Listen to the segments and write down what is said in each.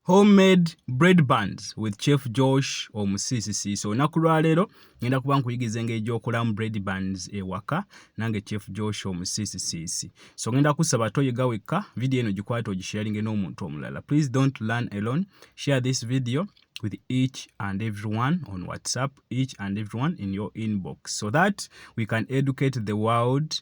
Home made bread buns with Chef Josh omusiisisi. So olunaku lwa leero ngenda kuba nkuyigiza engeri gy'okolamu bread buns ewaka nange Chef Josh omusiisisiisi. So ngenda kusaba toyiga wekka, vidiyo eno gikwate ogisharinge n'omuntu omulala. Please don't learn alone. Share this video with each and everyone on WhatsApp, each and everyone in your inbox so that we can educate the world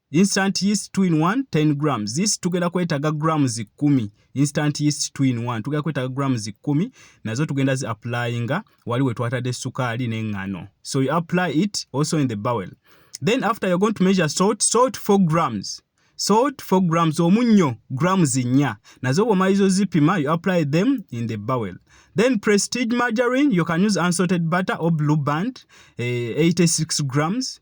instant yeast 2 in 1 10 grams this tugenda kwetaga grams 10 instant yeast 2 in 1 tugenda kwetaga grams 10 nazo tugenda zi applyinga wali we twatade sukali ne ngano so you apply it also in the bowel then after you're going to measure salt salt 4 grams salt 4 grams omunyo grams 4 nazo bwo maizo zipima you apply them in the bowel then prestige margarine you can use unsalted butter or blue band eh, 86 grams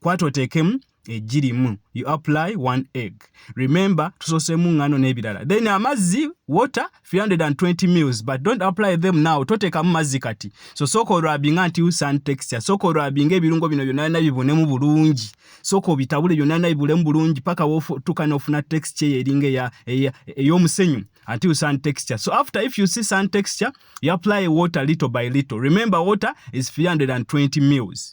kwata oteekemu eggi limu you apply one egg remember tusoosemu ngano n'ebirala then amazzi water 320 mils but don't apply them now toteekamu mazzi kati so sooka olwabinga nti sun texture sooka olwabinga ebirungo bino byonna byonna bibunemu bulungi sooka obitabule byonna byonna bibulemu bulungi paka wotuuka n'ofuna texture eyo eringa ey'omusenyu until sun texture. So after if you see sun texture, you apply water little by little. Remember water is 320 mils.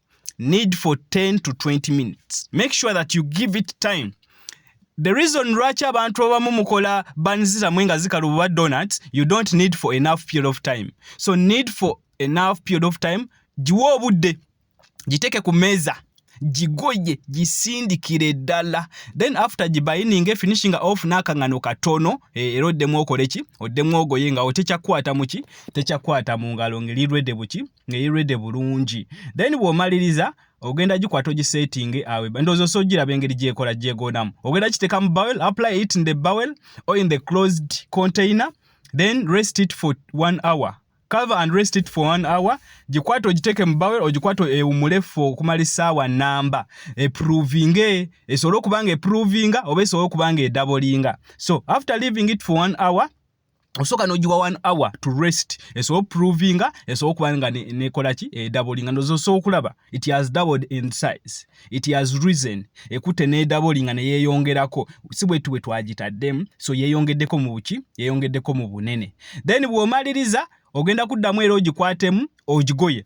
need for 10 to 20 minutes make sure that you give it time the reason lwaki abantu abamu mukola banzira mwe nga zikala obuba donut you don't need for enough period of time so need for enough period of time giwa obudde giteeke ku meeza gigoye gisindikire ddala then after gibayininge finishinga off n'akaŋŋano katono eh, era oddemu okoleki oddemu ogoye nga otekyakukwata muki tekyakukwata mu ngalo ngelirwedde buki ng'eri rede bulungi then bw'omaliriza ogenda gikwata ogisettinge awe ndowooza osa ogiraba engeri gyekola gyegonamu ogenda kiteeka mu bowel apply it in the bowel or in the closed container then rest it for one hour cover and rest it for one hour gikwate ogiteeke mu bawel ogikwate ewumule ffe okumala essaawa namba eprovinge esobole okuba nga eprovinga oba esobole okuba nga edabolinga so after leaving it for one hour osooka nogiwa one hour to rest esobola oprovinga esobola okuba nga nekola ki edabolinga ndoza osobola okulaba it has doubled in size it has reason ekutte nedabolinga neyeyongerako si bwetu bwe twagitaddemu so yeyongeddeko mu buki yeyongeddeko mu bunene then bwomaliriza ogenda kuddamu era ogikwatemu ogigoye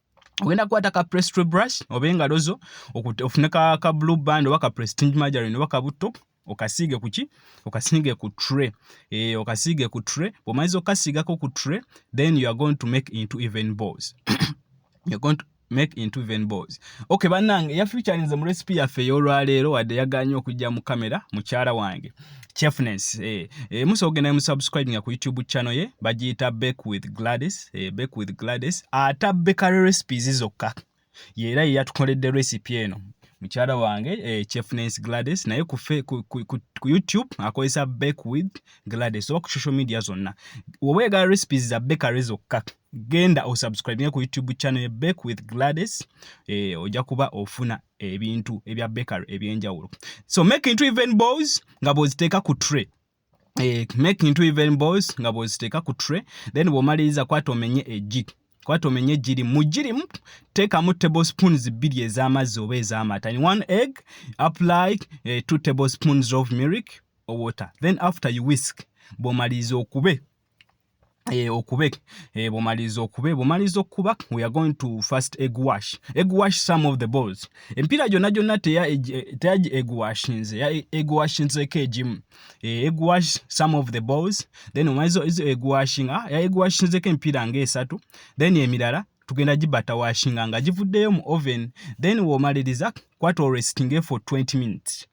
ogenda kukwata ka prestry brush oba engalo zo ofune ka, ka blue band oba ka prestige margarine oba kabutto okasiige kuki okasiige ku tray e, okasiige ku tray bwomaliza okukasiigako ku tray then you are going to make into even balls you're going to make into even balls okay bannange yafeaturinze mu recipe yaffe ey'olwaleero wadde yaganye okujja mu kamera mukyala wange chefness eh, eh, musobola okugenda musubscribe nga ku youtube channel ye bagiyita back with gladys eh, back with gladys ata bakery recipes zokka yeera yeyatukoledde recipe eno mukyala wange eh, chefness gladys naye ku, ku, ku, ku, ku youtube akozesa back with gladys oba ku social media zonna oba egala recipes za bakery zokka genda osubscribinge ku youtube channel ye back with gladys eh, ojja kuba ofuna ebintu ebya bakery ebyenjawulo so make into even balls nga bwoziteeka ku tray eh, make into even balls nga bwoziteeka ku tray then bwomaliriza kwata omenye egi kwata omenye egiri mu girimu teekamu table spoons bbiri ez'amazzi oba ez'amata in one egg apply eh, two table spoons of milk or water then after you whisk bwomaliriza okube eh, okube eh, bwomaliza okube bwomaliza okukuba we are going to first egg wash egg wash some of the balls empiira gyonna gyonna teya egg wash nze ya egg wash nzeko egimu eh, egg wash some of the balls then omaliza ezo egg washing ah, ya egg wash nzeko empiira ng'esatu then emirala tugenda gibata washinga nga givuddeyo mu oven then womaliriza kwata olwesitinge for 20 minutes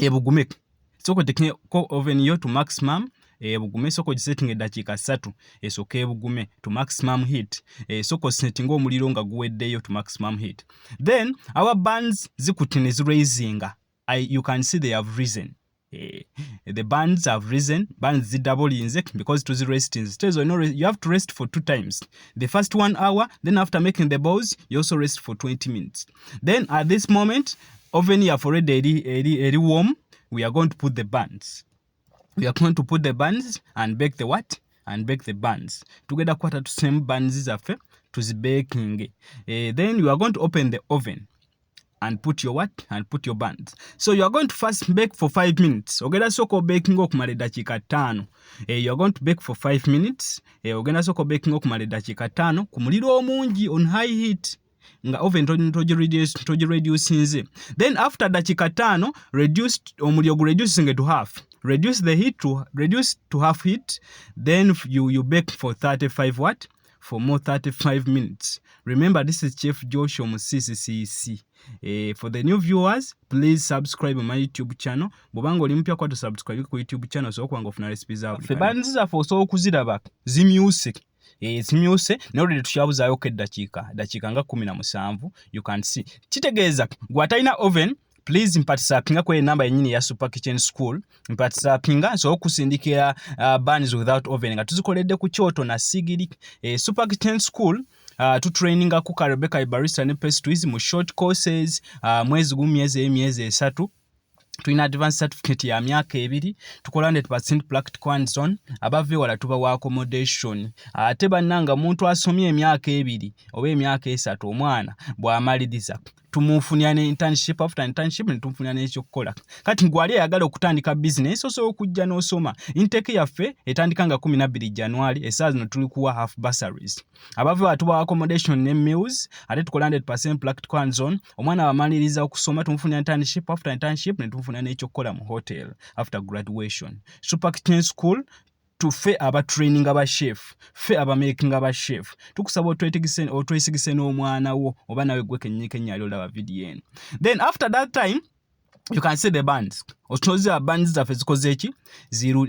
ebugume sooka otekne ko oven yo to maximum ebugume sooka ogisettinga eddakiika ssatu esooka ebugume to maximum heat esooka osettinga omuliro nga guweddeyo to maximum heat then our bands zikutte ne ziraisinga you can see they have reason Eh, the bands have risen bands zidda bulinze because to the rest instead so no you have to rest for two times the first one hour then after making the balls you also rest for 20 minutes then at this moment oven yaffe already eri, eri, eri warm we are going to put the buns we are going to put the buns and bake the what and bake the buns tugenda kukwata tusemu buns zaffe tuzibaking uh, eh, then you are going to open the oven and put your what and put your buns so you are going to first bake for five minutes ogenda soko baking okumala eddakiika ttaano eh, you are going to bake for five minutes eh, ogenda soko baking okumala eddakiika ttaano ku muliro omungi on high heat nga oven togireducinze then after dakika taano reduce omuliro gu reducinge to half reduce the heat to reduce to half heat then you, you bake for 35 what for more 35 minutes remember this is chef joshua musisi cc eh, for the new viewers please subscribe my youtube channel bwobanga oli mupya kwatu subscribe ku youtube channel osobola kubanga ofuna recipe zafe banzizafe osobola okuziraba zimyuse ekimyuse naye olwedde tukyabuzaayoko eddakiika dakiika nga kumi na musanvu you can see kitegeeza gwe atalina oven please mpatisapinga kweyo enamba yenyini eya super kitchen school mpatisapinga nsobola okusindikira uh, bans without oven nga tuzikoledde ku kyoto na sigiri eh, super kitchen school uh, tutraininga ku karebeka ibarista ne pastries mu short courses uh, mwezi gumu myezi eyo myezi esatu tulina advance certificate ya myaka ebiri tukola 100 practical and zone abava ewala tuba wa accommodation ate bannanga muntu asomye emyaka ebiri oba emyaka esatu omwana bw'amaliriza tumufunira ne internship after internship ne tumufunira n'ekyokukola kati ngwali ayagala okutandika business osobola okujja n'osoma inteke yaffe etandika nga 12 january esaa zino tuli kuwa half bursaries abava batuba accommodation ne meals ate tukola 100% practical hands on omwana wamaliriza okusoma tumufunira internship after internship ne tumufunira n'ekyokukola mu hotel after graduation super kitchen school tufe aba training aba chef fe aba making aba chef tukusaba otwetegise otwesigise n'omwana wo oba nawe gwe kennyini kennyali olaba video eno then after that time you can see the bands otunoza bands zaffe zikoze eki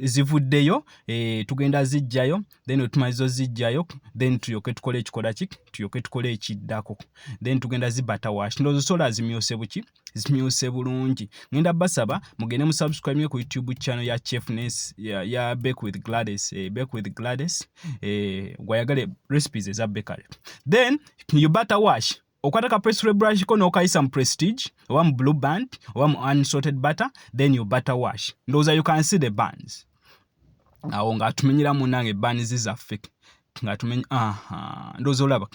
zivuddeyo e, tugenda zijjayo then otumalizo zijjayo then tuyoke tukole ekikola ki tuyoke tukole ekiddako then tugenda zibata wash ndozo sola zimyose buki zimyose bulungi ngenda basaba mugende mu subscribe yo ku youtube channel ya chefness ya, ya back with gladys e, back with gladys e, gwayagale recipes eza bakery then you bata wash okwata ka pastry brush ko n'okayisa mu prestige oba mu blue band oba mu unsalted butter then you butter wash ndowooza you can see the bands awo ng'atumenyera munange bands zaffe ng'atumenya aha ndowooza olaba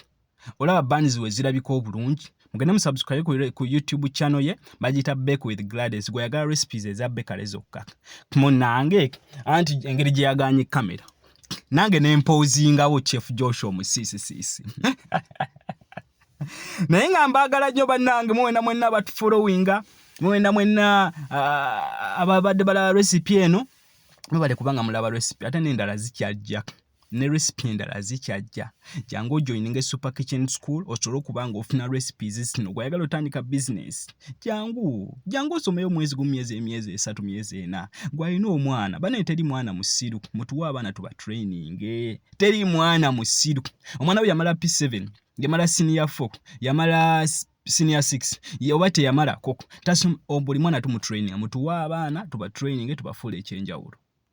olaba bands we zirabika obulungi mugende musubscribe ku, ku youtube channel ye bagiyita bake with glades gweyagala recipes eza bekale zokka munange anti engeri gye yaganye kamera nange nempoozingawo chief joshua omusiisisiisi naye nga mbaagala nnyo bannange muwena mwenna abatufolowinga muwena mwenna ah, ababadde balaba recipe eno mubale kubanga mulaba recipe ate nendala zikyajja ne recipe endala zikyajja jangu ojoininge super kitchen school osobole okuba nga ofuna recipes zino gwayagala otandika business jangu jangu osomeyo omwezi gumu myezi emyezi esatu myezi ena gwalina omwana banaye teri mwana musiru mutuwe abaana tuba training teri mwana musiru omwana we yamala p7 yamala senior 4 yamala senior 6 oba teyamala koko tasoma buli mwana tumutraining mutuwe abaana tuba training tubafuula ekyenjawulo